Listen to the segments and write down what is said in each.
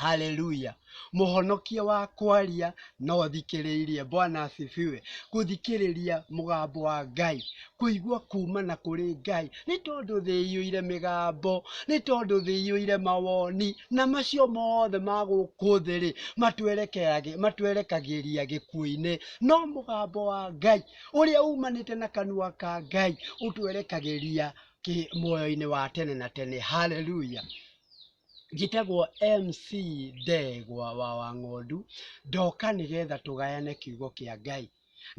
Hallelujah. Mũhonokia wa kwaria na ũthikĩrĩirie. Bwana asifiwe. Gũthikĩrĩria mũgambo wa Ngai. Kũigua kuuma na kũrĩ Ngai. Nĩ tondũ thĩ ĩiyũire mĩgambo. Nĩ tondũ thĩ iyũire mawoni. Na macio mothe ma gũkũ thĩ-rĩ, matwerekeage- matwerekagĩria gĩkuũ-inĩ. No mũgambo wa Ngai, ũrĩa umanĩte na kanua ka Ngai, ũtwerekagĩria kĩ- muoyo-inĩ wa tene na tene. Hallelujah. Njĩtagwo MC Ndegwa wa Wang'ondu, ndoka nĩgetha tũgayane kiugo kĩa Ngai.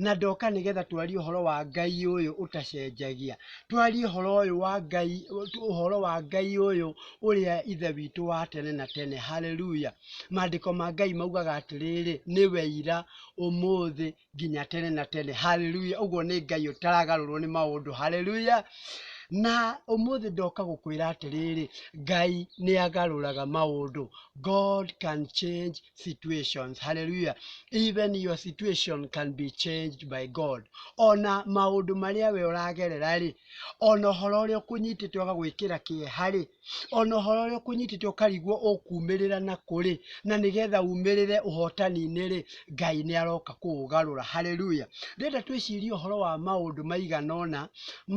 Na ndoka nĩgetha twarie ũhoro wa Ngai ũyũ ũtacenjagia. Twarie ũhoro ũyũ wa Ngai, ũhoro wa Ngai ũyũ ũrĩa Ithe witũ wa tene na tene. Hallelujah. Maandĩko ma Ngai maugaga atĩrĩrĩ, nĩwe ira, ũmũthĩ, nginya tene na tene haleluya ũguo nĩ ngai ũtaragarũrwo nĩ maũndũ haleluya na ũmũthĩ ndoka gũkwĩra atĩrĩrĩ ngai nĩ agarũraga maũndũ god can change situations haleluya even your situation can be changed by god ona maũndũ marĩa we ũragerera rĩ ona ũhoro ũrĩa ũkũnyitĩte ũgagwĩkĩra kĩeha rĩ ona ũhoro ũrĩa ũkũnyitĩte ũkarigwo ũkumĩrĩra na kũrĩ na nĩgetha umĩrĩre ũhotani-inĩ rĩ ngai nĩ aroka kũũgarũra haleluya ndĩrenda twĩcirie ũhoro wa maũndũ maigana ũna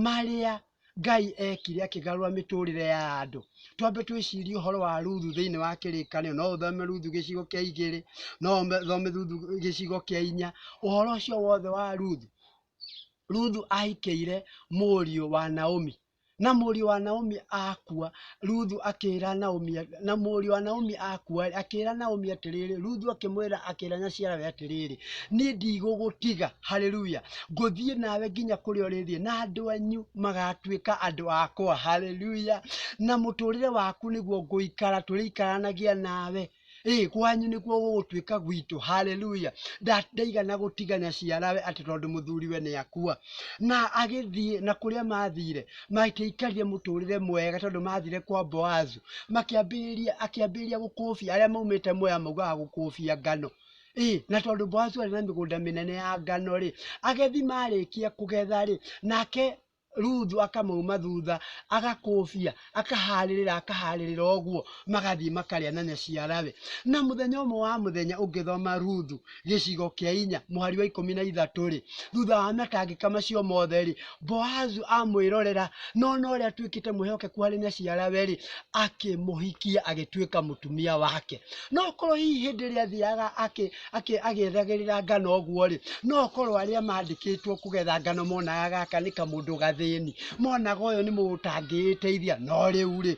marĩa ngai ekire akĩgarũra mĩtũrĩre ya andũ twambe twĩcirie ũhoro wa ruthu thĩinĩ wa kĩrĩkanĩro no ũthome ruthu gĩcigo kĩa igĩrĩ no ũthome ruthu gĩcigo kĩa inya ũhoro ũcio wothe wa ruthu ruthu ahikĩire mũriũ wa naomi Na mũriũ wa Naomi akua, Ruthu akĩĩra Naomi, na mũriũ wa Naomi akua, akĩĩra Naomi atĩrĩrĩ, Ruthu akĩmwĩra, akĩĩra nyaciarawe atĩrĩrĩ, niĩ ndigũgũtiga, haleluya, ngũthiĩ nawe nginya kũrĩa ũrĩthiĩ, na andũ anyu magatuĩka andũ akwa, haleluya, na mũtũrĩre waku nĩguo ngũikara, tũrĩikaranagia nawe. Ĩ, kwanyu nĩkuo gũgũtuĩka gwitũ. Haleluya! Nda- Ndaigana gũtigana ciarawe atĩ tondũ mũthuriwe nĩ akua. Na agĩthiĩ, na kũrĩa maathire, matiaikarire mũtũũrĩre mwega tondũ maathire kwa Boazu. Makĩambĩrĩria, akĩambĩrĩria gũkũũbia arĩa maumĩte Moya maugaga gũkũũbia ngano. Ĩ, na tondũ Boazu arĩ na mĩgũnda mĩnene ya ngano-rĩ, agethi maarĩkia kũgetha-rĩ, nake Ruthu akamauma thutha agakũbia akaharĩrĩra akaharĩrĩra ũguo magathiĩ makarĩa na nyaciarawe na mũthenya ũmwe wa mũthenya ũngĩthoma Ruthu gĩcigo kĩa inya mũhari wa ikũmi na ithatũ rĩ thutha wa matangĩka macio mothe rĩ Boazu amwĩrorera na ona ũrĩa atuĩkĩte mwĩhokeku harĩ nyaciarawe rĩ akĩmũhikia agĩtuĩka mũtumia wake no korwo hihi hĩndĩ ĩrĩa athiaga akĩ akĩ- agĩethagĩrĩra ngano ũguo-rĩ no korwo arĩa mandĩkĩtwo kũgetha ngano monaga gaka nĩ kamũndũ gathĩni monaga ũyũ nĩ mũndũ ũtangĩĩteithia no rĩu-rĩ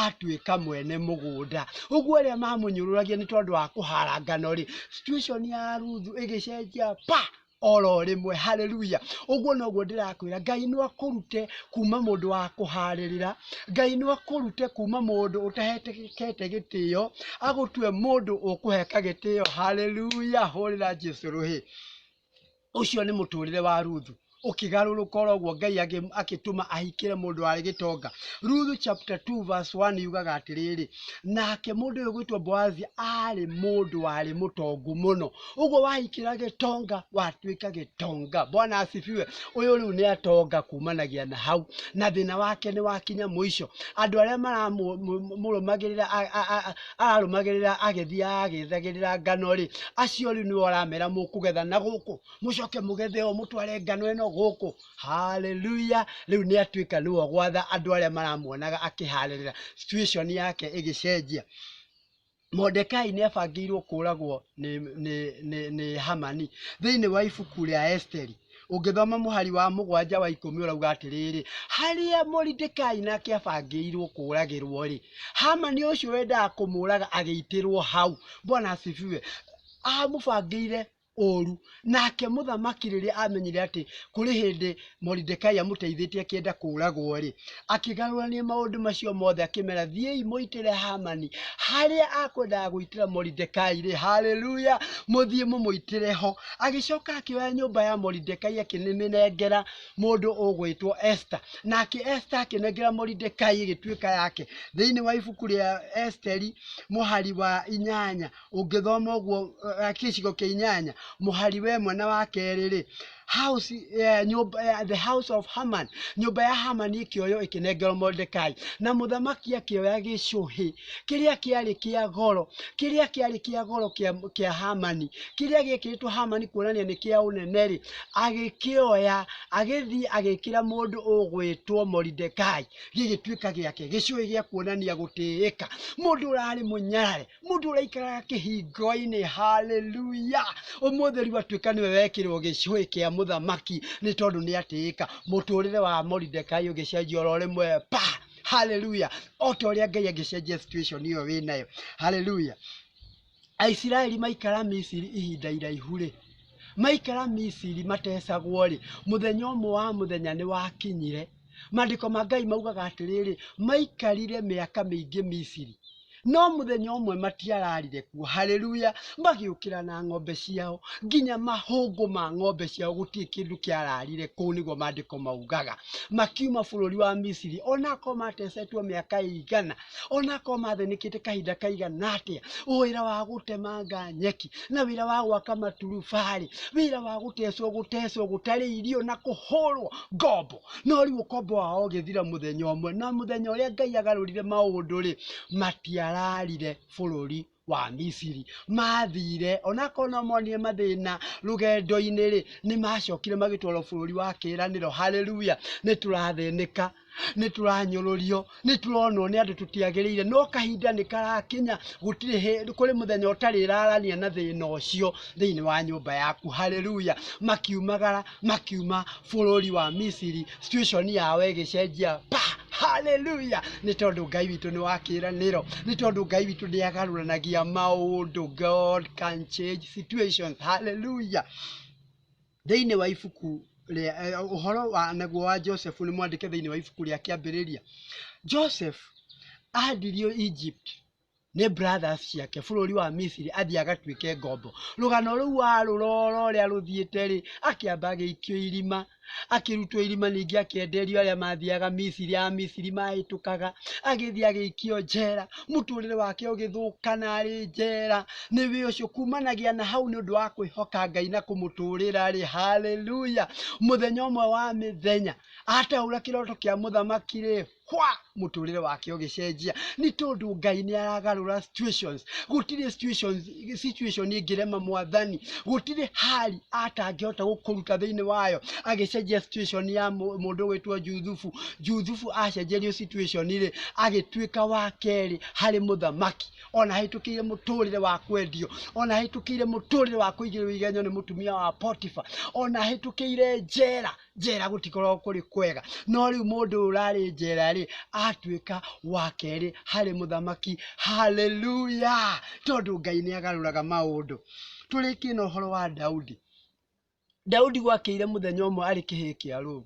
atuĩka mwene mũgũnda ũguo arĩa mamũnyũrũragia nĩ tondũ wa kũhara ngano-rĩ situation ya Ruthu ĩgĩcenjia pa! oro rimwe haleluya uguo noguo ndirakwira ngai no akurute kuma mundu wa kuharirira ngai no akurute kuma mundu utahetekete gitio agutue mundu ukuheka gitio haleluya hurira jesu ruhi ucio ni muturire wa ruthu ukigarurũka oro guo ngai agĩ- agĩtũma ahikĩre mũndũ warĩ gĩtonga ruthu chapter 2 verse 1 yugaga atĩrĩrĩ nake mũndũ ũyũ gwĩtwo boazi arĩ mũndũ warĩ mũtongu mũno ũguo wahikĩra gĩtonga watuĩka gĩtonga bwana asifiwe ũyũ rĩu nĩ atonga kumanagia na hau na thĩna wake nĩ wakinya mũico andũ arĩa maramũrũmagĩrĩra ararũmagĩrĩra agĩthiaga agĩthagĩrĩra ngano rĩ acio rĩu nĩwe ũramera mũkũgetha na gũkũ mũcoke mũgethe o mũtware ngano ĩno gũkũ haleluya rĩu nĩ atuĩka nĩwe gwatha andũ arĩa maramuonaga akĩharĩrĩra situation yake ĩgĩcenjia Mordekai nĩ abangĩirwo kũũragwo nĩ, nĩ, nĩ, nĩ Hamani thĩinĩ wa ibuku rĩa Esteri ũngĩthoma mũhari wa mũgwanja wa ikũmi ũrauga atĩrĩrĩ harĩa Moridekai nake abangĩirwo kũũragĩrwo rĩ Hamani ũcio wendaga kũmũũraga agĩitĩrwo hau bwana asifiwe amũbangĩire ũũru. Nake mũthamaki rĩrĩa aamenyire atĩ kũrĩ hĩndĩ Moridekai amũteithĩtie akĩenda kũũragwo-rĩ, akĩgarũrania maũndũ macio mothe akĩmera, thiĩi mũitĩre Hamani harĩa akwendaga gũitĩra Moridekai-rĩ, haleluya, mũthiĩ mũmũitĩre ho. Agĩcoka akĩoya nyũmba ya Moridekai akĩmĩnengera mũndũ ũgwĩtwo Esther, nake Esther akĩnengera Moridekai ĩgĩtuĩka yake. Thĩinĩ wa ibuku rĩa Esteri mũhari wa inyanya. ũngĩthoma ũguo eh, eh, gĩcigo kĩa inyanya mũhari wa ĩmwe na wa kerĩ-rĩ house eh, nyũmba eh, the house of Haman nyũmba ya Hamani ĩkĩoywo ĩkĩnengerwo Mordekai na mũthamaki akĩoya gĩcũhĩ kĩrĩa kĩarĩ kĩa goro kĩrĩa kĩarĩ kĩa goro kĩa kĩa Hamani kĩrĩa gĩekĩrĩtwo Hamani kuonania nĩ kĩa ũnene-rĩ agĩkĩoya agĩthiĩ agĩkĩra mũndũ ũgwĩtwo Mordekai gĩgĩtuĩka gĩake gĩcũhĩ gĩa kuonania gũtĩĩka mũndũ ũrarĩ mũnyarare mundu uraikaraga kihingo-ini haleluya umuthi riu atuika niwe wekirwo gicui kia muthamaki ni tondu ni atiika muturire wa moridekai ugicenjia oro rimwe pa haleluya o ta uria ngai angicenjia situation iyo wi nayo haleluya aisiraeli maikara misiri ihinda iraihu rĩ maikara misiri matecagwo rĩ mũthenya ũmwe wa mũthenya nĩ wakinyire Maandĩko ma Ngai maugaga atĩrĩrĩ, maikarire mĩaka mĩingĩ Misiri, no mũthenya ũmwe matiararire kuo, haleluya, magĩũkĩra na ng'ombe ciao, nginya mahũngũ ma ng'ombe ciao, gũtirĩ kĩndũ kĩararire kũu, nĩguo maandĩko maugaga. Makiuma bũrũri wa Misiri, onakorwo matecetwo mĩaka ĩigana, onakorwo mathĩnĩkĩte kahinda kaigana atĩa wĩra wa gũtemanga nyeki na wĩra wa gwaka maturubarĩ wĩra wa gũtecwo gũtecwo gũtarĩ irio na kũhũrwo ngombo no rĩu ũkombo wao ũgĩthira mũthenya ũmwe na mũthenya ũrĩa ngai agarũrire maũndũ rĩ matiararire bũrũri wa Misiri mathire onakorwo no monire mathĩna rũgendo-inĩ rĩ nĩ macokire magĩtwarwo bũrũri wa kĩĩranĩro haleluya nĩ tũrathĩnĩka nĩ tũranyũrũrio nĩ tũronwo nĩ andũ tũtiagĩrĩire no kahinda nĩ karakinya gũtirĩ hĩ- kũrĩ mũthenya ũtarĩrarania na thĩna ũcio thĩinĩ wa nyũmba yaku haleluya makiumagara makiuma bũrũri wa Misiri, situation yao ĩgĩcenjia pa! Hallelujah! Nĩ tondũ Ngai witũ nĩ wa kĩĩranĩro, nĩ tondũ Ngai witũ nĩ agarũranagia maũndũ. God can change situations. Hallelujah! Thĩinĩ wa ibuku rĩa eh, ũhoro wa naguo wa Joseph nĩ mwandĩke thĩinĩ wa ibuku rĩa kĩambĩrĩria. Joseph ahendirio Egypt nĩ brothers ciake bũrũri wa Misiri athiĩ agatuĩke ngombo. Rũgano rũu warũrora ũrĩa rũthiĩte rĩ, akĩamba agĩikio irima, akĩrutwo irima ningĩ akĩenderio arĩa mathiaga Misiri, a Misiri mahĩtũkaga, agĩthiĩ agĩikio njera, mũtũrĩre wake ũgĩthũkana arĩ njera. Nĩ wĩ ũcio kumanagia na hau nĩ ũndũ wa kwĩhoka Ngai na kũmũtũrĩra rĩ, haleluya! Mũthenya ũmwe wa mĩthenya ataũra kĩroto kĩa mũthamaki rĩ, kwa mũtũrĩre wake ũgĩcenjia nĩ tondũ ngai nĩ aragarũra situations gũtirĩ situations situation ĩngĩrema mwathani gũtirĩ hali atangĩhota gũkũruta thĩinĩ wayo agĩcenjia situation ya mũ- mũndũ wĩtwo juthubu juthubu acenjerio situation rĩ agĩtuĩka wa kerĩ harĩ mũthamaki ona hĩtũkĩire mũtũrĩre wa kwendio ona hĩtũkĩire mũtũrĩre wa kũigĩrĩrwo igenyo nĩ mũtumia wa potifa ona hĩtũkĩire njera njera gũtikoragwo kũrĩ kwega no rĩu mũndũ ũrarĩ njera rĩ atuĩka wa kerĩ harĩ mũthamaki haleluya tondũ ngai nĩ agarũraga maũndũ tũrĩkie na ũhoro wa daudi daudi gwakĩire mũthenya ũmwe arĩ kĩhĩĩ kĩa rũu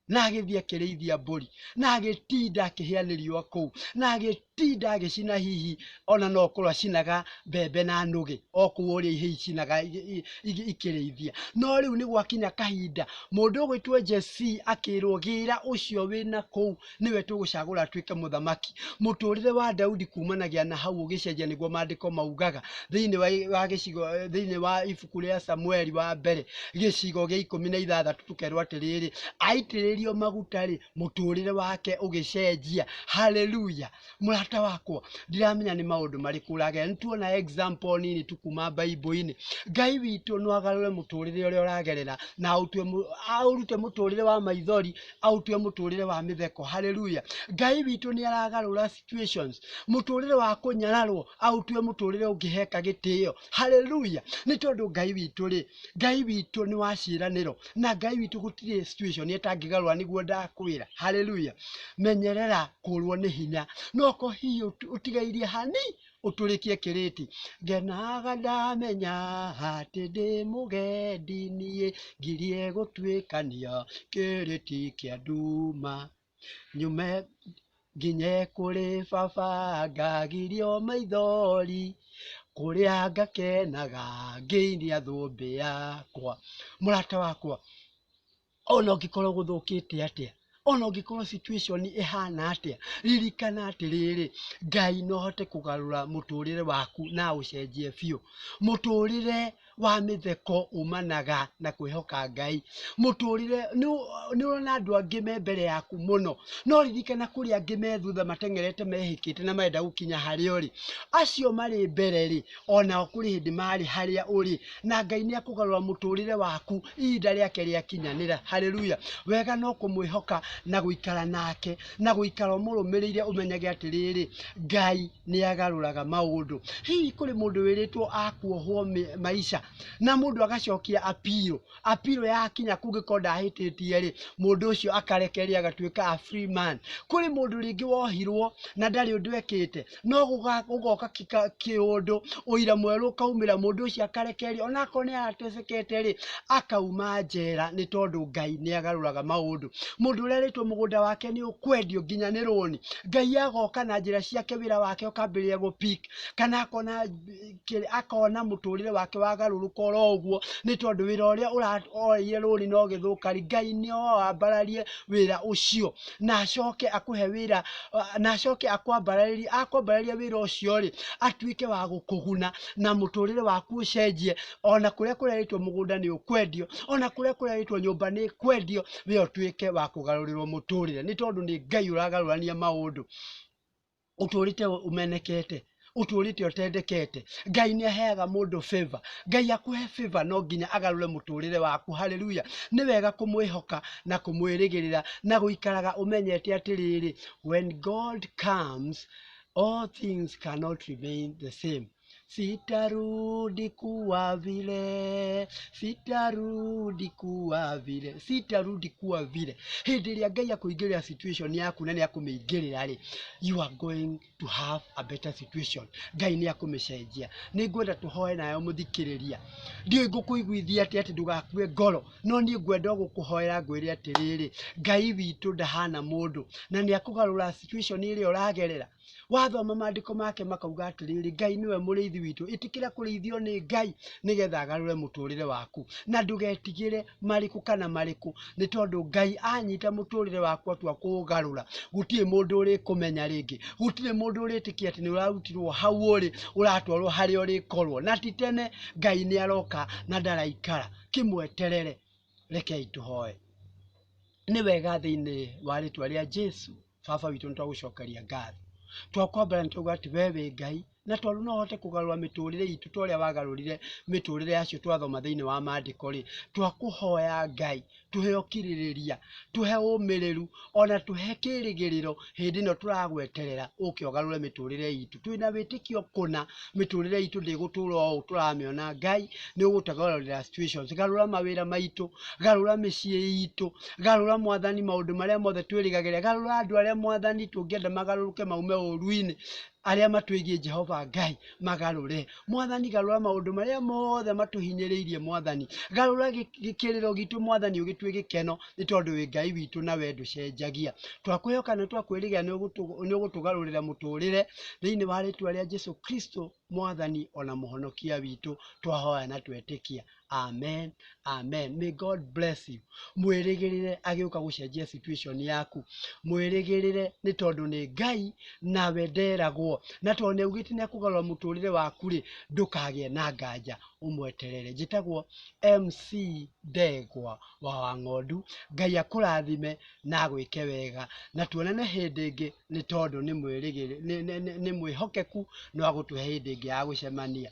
na agĩthiĩ akĩrĩithia mbũri na agĩtinda akĩhĩa nĩ riũa kũu na agĩ ti ndagĩcina hihi ona no kũrwa cinaga mbembe na nũgĩ o kũu ũrĩa ihĩi cinaga i- i- i- ikĩrĩithia no rĩu nĩ gwakinya kahinda mũndũ ũgwĩtwo Jesii akĩrwo gĩra ũcio wĩna kũu nĩwe tũgũcagũra atuĩke mũthamaki mũtũrĩre wa Daudi kumanagia na hau ũgĩcenjia nĩguo maandĩko maugaga thĩinĩ wa, wa gĩcigo thĩinĩ wa ibuku rĩa Samueli wa mbere gĩcigo gĩa ikũmi na ithathatũ tũkerwo atĩrĩrĩ aitĩrĩrio maguta rĩ mũtũrĩre wake ũgĩcenjia haleluya mũrata wakwa ndiramenya nĩ maũndũ marĩkũ ũragerera nĩtuona example nini tu kuma baibũ-inĩ ngai witũ no agarũre mũtũrĩre ũrĩa ũragerera na aũtue mũ- aũrute mũtũrĩre wa maithori aũtue mũtũrĩre wa mĩtheko haleluya ngai witũ nĩ aragarũra situations mũtũrĩre wa kũnyararwo aũtue mũtũrĩre ũngĩheka gĩtĩo haleluya nĩ tondũ ngai witũ rĩ Ngai witũ nĩ wa ciĩranĩro na Ngai witũ gũtirĩ situation ĩtangĩgarũra nĩguo ndakwĩra. Haleluya. Menyerera kũrwo nĩ hinya. No ko hihi ũt- ũtigairie hani ũtũrĩkie kĩrĩti. Ngenaga ndamenya atĩ ndĩ mũgendi niĩ ngirie gũtuĩkania kĩrĩti kĩa nduma. Nyume nginye kũrĩ baba ngagirio maithori, kũrĩa ngakenaga ngĩinia thũmbĩ yakwa. Mũrata wakwa, ona ũngĩkorwo gũthũkĩte atĩa, ona ũngĩkorwo situation ĩhana atĩa, ririkana atĩrĩrĩ, Ngai no ahote kũgarũra mũtũrĩre waku na aũcenjie biũ. Mũtũrĩre wa mĩtheko umanaga na kwĩhoka Ngai. Mũtũrĩre, nĩũrona andũ angĩ me mbere yaku mũno, no ririkana kũrĩ angĩ me thutha mateng'erete mehĩkĩte na marenda gũkinya harĩa ũrĩ. Acio marĩ mbere-rĩ, onao kũrĩ hĩndĩ marĩ harĩa ũrĩ, na Ngai nĩekũgarũra mũtũrĩre waku ihinda rĩake rĩakinyanĩra. Haleluya! Wega no kũmwĩhoka na gũikara nake. na gũikara ũmũrũmĩrĩire ũmenyage atĩrĩrĩ, Ngai nĩ agarũraga maũndũ. Hihi kũrĩ mũndũ wĩrĩtwo akuohwo maisha na mũndũ agacokia appeal, appeal yakinya kũngĩkorwo ndahĩtĩtie rĩ, mũndũ ũcio akarekererio agatuĩka a free man. Kũrĩ mũndũ rĩngĩ wohirwo na ndarĩ ũndũ ekĩte, no gũgoka kĩũndũ ũira mwerũ ũkaumĩra mũndũ ũcio akarekererio ona akorwo nĩ aratecekete rĩ akauma njera nĩ tondũ Ngai nĩ agarũraga maũndũ. Mũndũ ũrĩa ũrerĩtwo mũgũnda wake nĩ ũkwendio nginya nĩ rũni, Ngai agoka na njĩra ciake wĩra wake ũkambĩrĩria gũ pick kana akona kĩrĩ- akona mũtũrĩre wake wagarũrũka oro ũguo nĩ tondũ wĩra ũrĩa ũra- oeire rũrĩ na ũgĩthũka rĩ ngai nĩo wambararie wĩra ũcio na acoke akũhe wĩra ah, na acoke akwambararĩrie akwambararĩria wĩra ũcio rĩ atuĩke wa gũkũguna na mũtũrĩre waku ũcenjie ona kũrĩa kũrerĩtwo mũgũnda nĩ ũkwendio ona kũrĩa kũrerĩtwo nyũmba nĩ kwendio we ũtuĩke wa kũgarũrĩrwo mũtũrĩre nĩ tondũ nĩ ngai ũragarũrania maũndũ ũtũrĩte ũmenekete ũtũrĩte ũtendekete ngai nĩ aheaga mũndũ favor ngai akũhe favor no nginya agarũre mũtũrĩre waku haleluya nĩ wega kũmwĩhoka na kũmwĩrĩgĩrĩra na gũikaraga ũmenyete atĩrĩrĩ when god comes all things cannot remain the same Sitarudi kuwa vile, sitarudi kuwa vile, sitarudi kuwa vile. Hĩndĩ ĩrĩa Ngai akũingĩrĩra situation yaku na nĩ akũmĩingĩrĩra rĩ, you are going to have a better situation. Ngai nĩ akũmĩcenjia. Nĩ ngwenda tũhoe nayo mũthikĩrĩria. Ndiũĩ ngũkũiguithia atĩa atĩ ndũgakue ngoro, no niĩ ngwenda o gũkũhoera ngwĩre atĩrĩrĩ, Ngai witũ ndahana mũndũ na nĩ akũgarũra situation ĩrĩa ũragerera. wathoma maandĩko make makauga atĩrĩrĩ ngai nĩwe mũrĩithi witũ ĩtĩkĩra kũrĩithio nĩ ngai nĩgetha agarũre mũtũrĩre waku na ndũgetigĩre marĩkũ kana marĩkũ nĩ tondũ ngai anyita mũtũrĩre waku atua kũũgarũra gũtirĩ mũndũ ũrĩkũmenya rĩngĩ gũtirĩ mũndũ ũrĩtĩkia atĩ nĩ ũrarutirwo hau ũrĩ ũratwarwo harĩa ũrĩkorwo na ti tene ngai nĩ aroka na ndaraikara kĩmweterere rekei tũhoe nĩ wega thĩinĩ wa rĩtwa rĩa jesu baba witũ nĩ twagũcokeria ngatho twakwambara nĩ twauga atĩ wee wĩ ngai na tondũ no ũhote kũgarũra mĩtũrĩre itũ ta ũrĩa wagarũrire mĩtũrĩre yacio twathoma thĩinĩ wa maandĩko rĩ twakũhoya ngai tũhe ũkirĩrĩria tũhe ũmĩrĩru ona tũhe kĩrĩgĩrĩro hĩndĩ ĩno tũragweterera ũke ũgarũre mĩtũrĩre itũ twĩna wĩtĩkio kũna mĩtũrĩre itũ ndĩgũtũra o tũramĩona ngai nĩ ũgũtagarũrĩra situations garũra mawĩra maitũ garũra mĩciĩ itũ garũra mwathani maũndũ marĩa mothe twĩrĩgagĩrĩa garũra andũ arĩa mwathani tũngĩenda magarũrũke maume ũruinĩ arĩa matwĩgiĩ jehova ngai magarũre Mwathani, garũra maũndũ marĩa mothe matũhinyĩrĩirie, Mwathani. Garũra gĩkĩrĩro gitũ, Mwathani, ũgĩtue gĩkeno, nĩ tondũ wĩ Ngai witũ na we ndũcenjagia. Twakwĩhoka na twakwĩrĩgĩra nĩ ũgũtũgarũrĩra mũtũrĩre thĩinĩ wa rĩtwa rĩa Jesu Kristo, Mwathani ona mũhonokia witũ, twahoya na twetĩkia. Amen. Amen. May God bless you. Mwĩrĩgĩrĩre agĩũka gũcenjia situation yaku. Mwĩrĩgĩrĩre nĩ tondũ nĩ Ngai nawe nderagwo. Na tondũ nĩ augĩte nĩ akũgarũra mũtũrĩre waku rĩ, ndũkagĩe na nganja ũmweterere. Njĩtagwo MC Ndegwa wa Wang'ondu. Ngai akũrathime na agwĩke wega. Na tuonane hĩndĩ ĩngĩ nĩ tondũ nĩ mwĩrĩgĩrĩ- nĩ- nĩ- nĩ- nĩ mwĩhokeku no agũtũhe hĩndĩ ĩngĩ ya gũcemania.